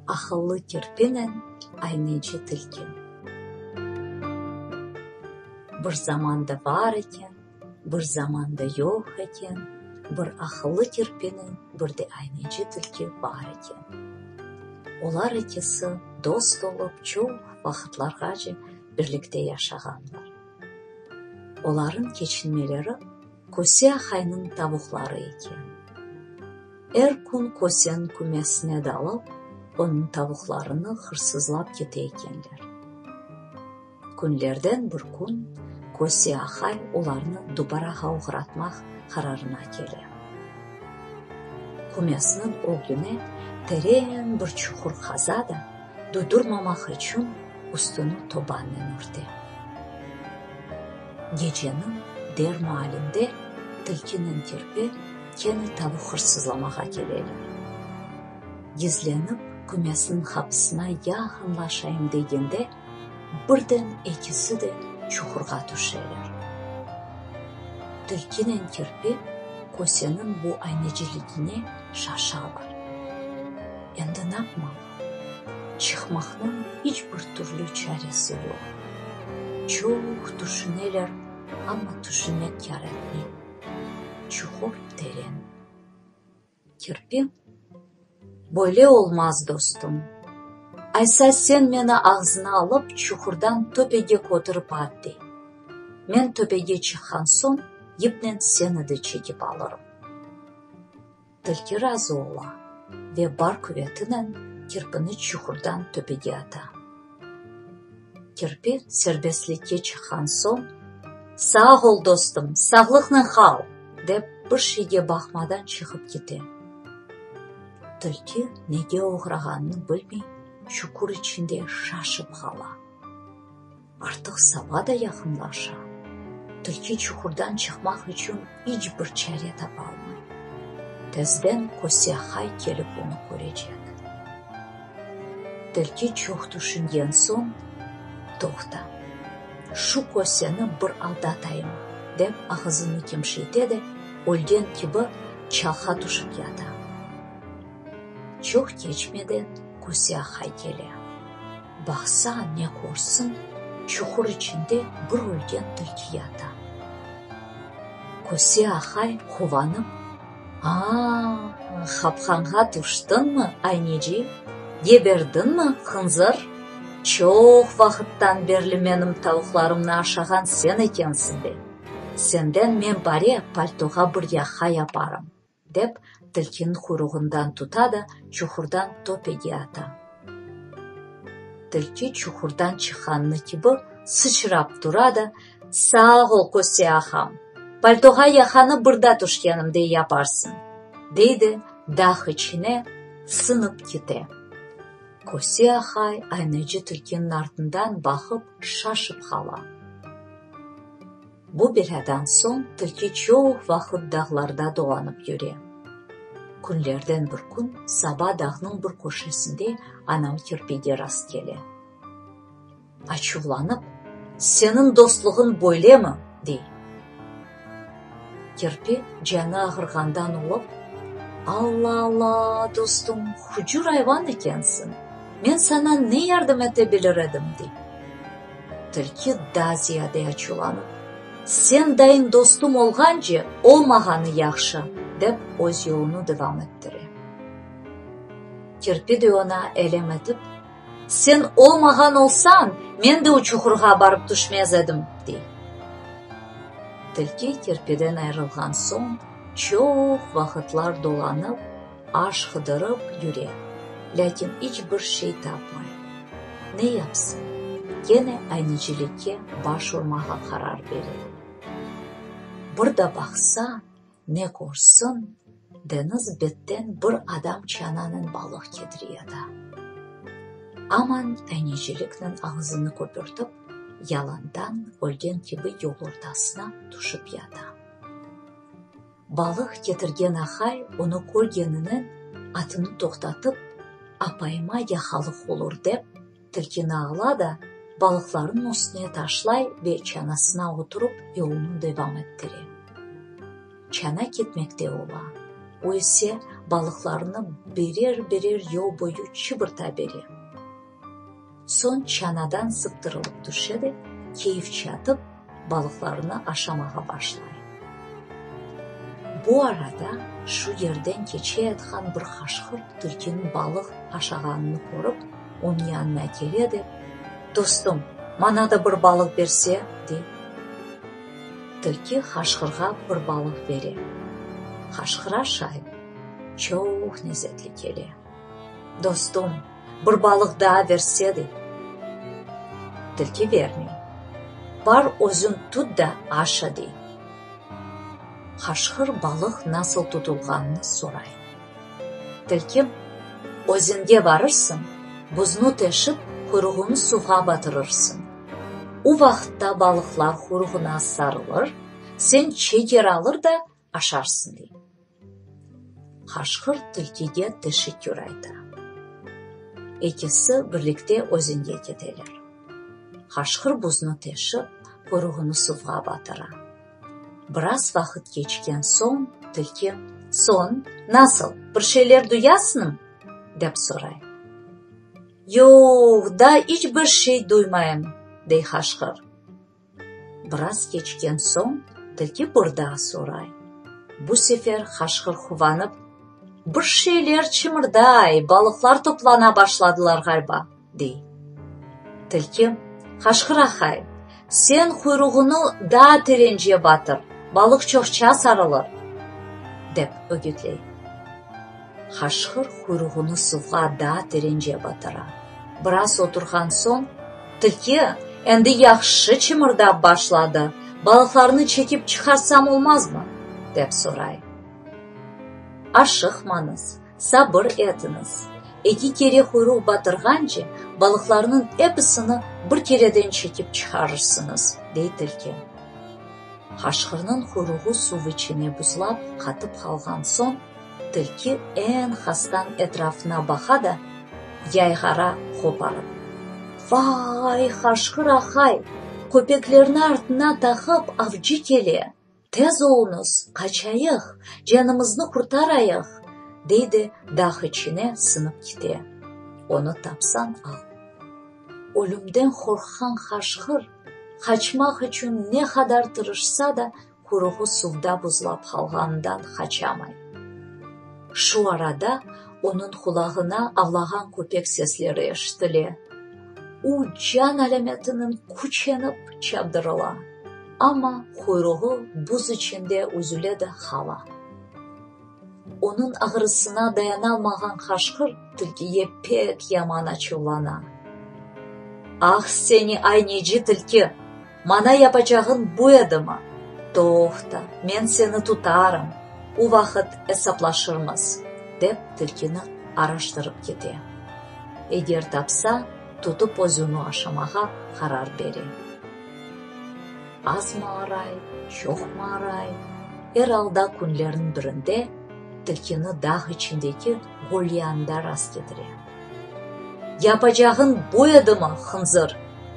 Aqıllı kirpinen ayneci tilki. Bir zamanda bar eken, bir zamanda yoq eken, bir aqıllı kirpinen bir de ayneci tilki bar eken. Olar ikisi dost olıp çoq vaqıtlarğace birlikte yaşağanlar. Olarnıñ keçinmeleri köse ahaynıñ tavuqları eken. Er kün köseniñ kümesine dalıp, onıñ tavuqlarını hırsızlap kete ekenler. Künlerden bir kün köse ahay olarnı dubarağa oğratmaq qararına kele. Kümesiniñ ögline tereñ bir çuqur qaza da, Dudurmamaq içün üstüni tobannen örte. Geceniñ der maalinde tilkiniñ kirpi kene tavuq hırsızlamağa keleler. Gizlenip kümesniñ qapısına yaqınlaşayım degende, birden ekisi de çuqurğa tüşeler. Tilkinen kirpi köseniñ bu ayneciligine şaşalar. Endi napmalı? Çıqmaqnıñ iç bir türlü çaresi yoq. Çoq tüşüneler, amma tüşünmek yaratmay. Çuqur teren. Kirpi, Böyle olmaz, dostum. Aysa sen meni ağzına alıp, çuqurdan töpege kötürip at, dey. Men töpege çıqqan soñ, yipnen seni de çekip alırım. Tilki razı ola ve bar quvetinen kirpini çuhurdan töpege ata. Kirpi serbestlikke çıqqan soñ, Sağ ol, dostum, sağlıqnen qal! dep, bir şeyge baqmadan çıqıp kete. Tilki nege oğrağanını bilmey, çuqur içinde şaşıp qala. Artıq saba da yaqınlaşa. Tilki çuqurdan çıqmaq içün iç bir çare tapalmay. Tezden Kosyahay kelip onı körecek. Tilki çoq tüşüngen soñ, Toqta, şu Kosyani bir aldatayım, dep ağızını kemşeyte de, ölgen kibi çalğa tüşip yata. Çoq keçmeden Kosyahay kele. Baqsa, ne körsin, çuqur içinde bir ölgen tilki yata. Köse ahay, quvanıp, Aa, qapqanğa tüştiñmi, ayneci? Geberdiñmi, hınzır? Çoq vaqıttan berli menim tavuqlarımnı aşağan sen ekensiñ be! Senden men bare paltoğa bir yaqa yaparım. Dep, tilkiniñ quyruğından tuta da, çuhurdan töpege ata. Tilki çuhurdan çıqqanı kibi sıçrap tura da, Sağ ol, Köste ağam! Paltoğa yaqanı bırda tüşkenimde yaparsıñ! dey de, dağ içine sınıp kite. Köste ağa aynacı tilkiniñ artından baqıp, şaşıp qala. Bu belâdan soñ tilki çoq vaqıt dağlarda dolanıp yüre. Künlerden bir kün Saba dağnıñ bir köşesinde anam kirpige rast kele. Açuvlanıp, Seniñ dostluğıñ böylemi? dey. Kirpi canı ağırğandan olıp, Alla-alla, dostum, hucur ayvan ekensiñ, men saña ne yardım ete bilir edim? dey. Tilki daa ziyade açuvlanıp, Sen dayıñ dostum olğance, olmağanı yahşı, dep öz yolunı devam ettire. Kirpi de oña elem etip, Sen olmağan olsañ, men de o çuhurğa barıp tüşmez edim, dey. Tilki kirpiden ayrılğan soñ çoq vaqıtlar dolanıp. Aş qıdırıp yüre, lâkin iç bir şey tapmay. Ne yapsın? Kene aynecilikke baş urmağa qarar bere. Bir da baqsa, ne körsin, deñiz betten bir adam çananen balıq ketiriyada. Aman ayneciliknen ağızını köpürtip, yalandan ölgen kibi yol ortasına tüşip yata. Balıq ketirgen ahay onı körgenini atını toqtatıp, apayıma yaqalıq olur dep, tilkini ala da, balıqlarnıñ üstüne taşlay ve çanasına oturup yolunı devam ettire. Çana ketmekte ola, o ise balıqlarnı birer-birer yol boyu çıbırta bere. Soñ çanadan sıptırılıp tüşe de, keyifçe atıp, balıqlarını aşamağa başlay. Bu arada şu yerden keçeyatqan bir qaşqırt tilkiniñ balıq aşağanını körip, onıñ yanına kele de, Dostum, maña da bir balıq berse, dey. Tilki qaşqırğa bir balıq bere. Qaşqıra şay çoq nezetli kele. Dostum, bir balıq daa versedi. Tilki vermey. Bar, özün tut da aşa, dey. Qaşqır balıq nasıl tutulğanını soray. Tilki, özünge barırsıñ, buznı teşip, quyruğını suvğa batırırsıñ. U vaqıtta balıqlar quyruğına sarılır, sen çeker alır da aşarsıñ, dey. Qaşqır tilkige teşekkür ayta. Ekisi birlikte özenge keteler. Qaşqır buznı teşip, quyruğını suvğa batıra. Biraz vaqıt keçken soñ tilki. Soñ, nasıl, bir şeyler duyasıñm? dep soray. Yoq, daa iç bir şey duymayım, dey qaşqır. Biraz keçken soñ tilki bir daa soray. Bu sefer qaşqır quvanıp, Bir şeyler çıñırday, balıqlar toplana başladılar ğaliba, dey. Tilki, Qaşqır ahay, sen quyruğıñı daa terence batır, balıq çoqça sarılır, dep ögütley. Haşqır quyruğını suvğa daa terence batıra. Biraz oturğan soñ, tilki endi yahşı çıımırdap başladı, balıqlarnı çekip çıqarsam olmazmı? dep soray. Aşıqmañız, sabır etiñiz. Eki kere quyruq batırğance, balıqlarnıñ episini bir kereden çekip çıqarırsıñız, dey tilki. Haşqırnıñ quyruğı suv içine buzlap qatıp qalğan soñ. Tilki eñ hastan etrafına baqa da, yayğara qoparıp. Vay, haşqır-ahay! Köpeklerni artına taqıp, avcı kele! Tez olunız, qaçayıq, canımıznı qurtarayıq! deydi, dağ içine siñip kite. Onı tapsañ al. Ölümden qorqqan haşqır, qaçmaq içün ne qadar tırışsa da, Quruğı suvda buzlap qalğanından qaçamay. Şu arada onıñ qulağına avlağan köpek sesleri eşitile. O, can alâmetinen küçenip çapdırıla, amma quyruğı buz içinde üzüle de qala. Onıñ ağrısına dayanalmağan qaşqır tilkiye pek yaman açuvlana. Ah seni, ay neci tilki, mana yapacağıñ bu edimi? Toqta, men seni tutarım, o vaqıt esaplaşırmız, dep tilkini araştırıp kete. Eger tapsa, tutıp özüni aşamağa qarar bere. Azmı aray, çoqmı aray, er alda künlerniñ birinde tilkini dağ içindeki gölyanında rastkedire. Yapacağıñ bu edimi, hınzır?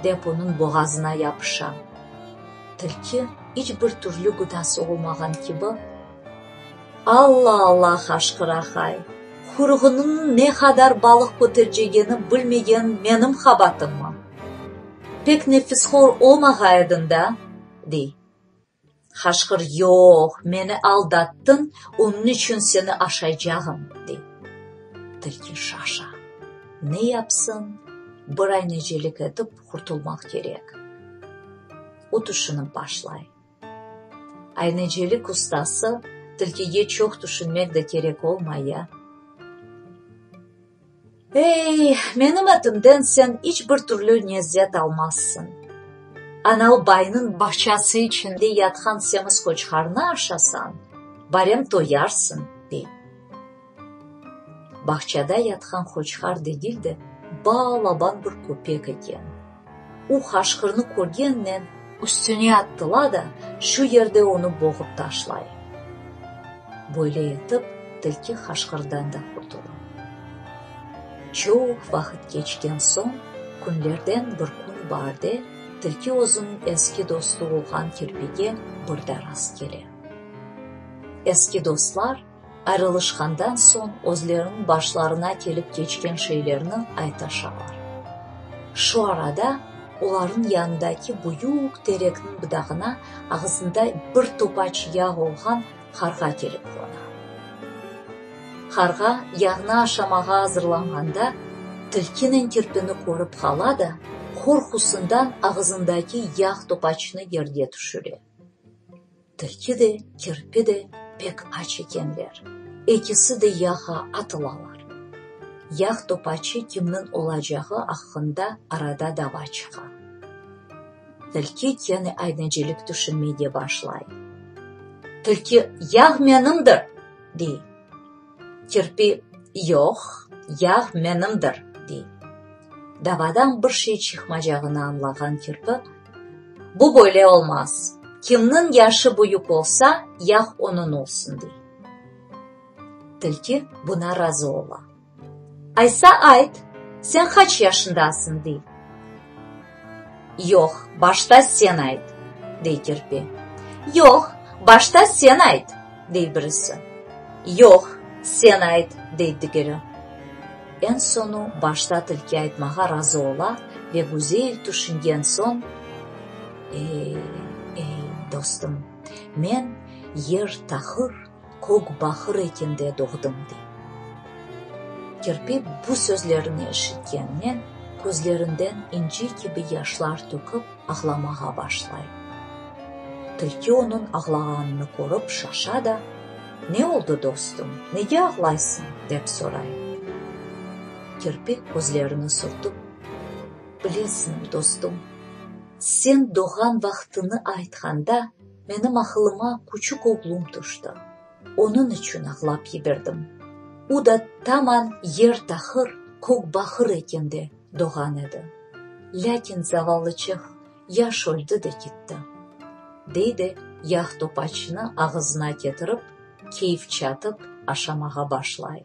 dep onıñ boğazına yapışa. Tilki iç bir türlü gıdası olmağan kibi. Alla, alla! haşqıra Hay. Quyruğınıñ ne qadar balıq kötercegeni bilmegen menim qabatımmı? Pek nefisxor olmağa ediñ da! dey. Qaşqır, yoq, meni aldattıñ, onıñ içün seni aşaycağım, dey. Tilki şaşa. Ne yapsın, bir anecelik etip qurtulmaq kerek. O tüşünip başlay. Aynecilik ustası tilkige çoq tüşünmek de kerek olmay ya. Ey, menim etimden sen iç bir türlü nezzet almazsıñ. Anal baynıñ bağçası içinde yatqan semiz qoçqarnı aşasañ, barem toyarsıñ, dey. Bağçada yatqan qoçqar degil de, ba-laban bir köpek eken. O qaşqırnı körgennen, üstüne attıla da, şu yerde onı boğıp taşlay. Böyle etip, tilki qaşqırdan da qurtula. Çoq vaqıt keçken soñ, künlerden bir kün barde, tilki özüniñ eski dostu olğan kirpige birda rast kele. Eski dostlar. Ayrılışqandan soñ özleriniñ başlarına kelip keçken şeylerni aytaşalar. Şu arada olarnıñ yanındaki büyük terekniñ budağına ağızında bir topaç yağ olğan qarğa kelip qona. Qarğa yağnı aşamağa azırlanğanda, tilkiniñ kirpini körip qala da, qorqusından ağızındaki yağ topaçını yerge tüşüre. Tilki de, kirpi de pek aç ekenler. Ekisi de yağa atılalar. Yağ topacı kimniñ olacağı aqqında arada dava çıqa. Tilki kene aynecilik tüşünmege başlay. Tilki, Yağ menimdir! dey. Kirpi, Yoq, yağ menimdir, dey. Davadan bir şey çıqmacağını añlağan kirpi, Bu böyle olmaz, kimniñ yaşı büyük olsa, yağ onıñ olsun, dey. Tilki buna razı ola. Aysa ayt, sen qaç yaşındasıñ? dey. Yoq, başta sen ayt, dey kirpi. Yoq, başta sen ayt, dey birisi. Yoq, sen ayt, dey digeri. Eñ soñu başta tilki aytmağa razı ola ve güzel tüşüngen soñ, Ey, ey, dostum, men Yer Tahır, Kök bahır ekinde doğdım, dey. Kirpi bu sözlerni eşitkennen, közlerinden inci kibi yaşlar tökip, ağlamağa başlay. Tilki onıñ ağlağanını körip şaşa da, Ne oldı, dostum, nege ağlaysıñ? dep soray. Kirpi közlerini sürtip, Bilesiñ, dostum, sen doğğan vaqtını aytqanda, Menim aqılıma küçük oğlum tüşti. Onıñ içün ağlap yiberdim. U da taman yer taqır, kök baqır eken de doğan edi. Lâkin zavallı çeh yaş öldi de kitti. Dey de yağ topaçnı ağızına ketirip, keyfçe atıp aşamağa başlay.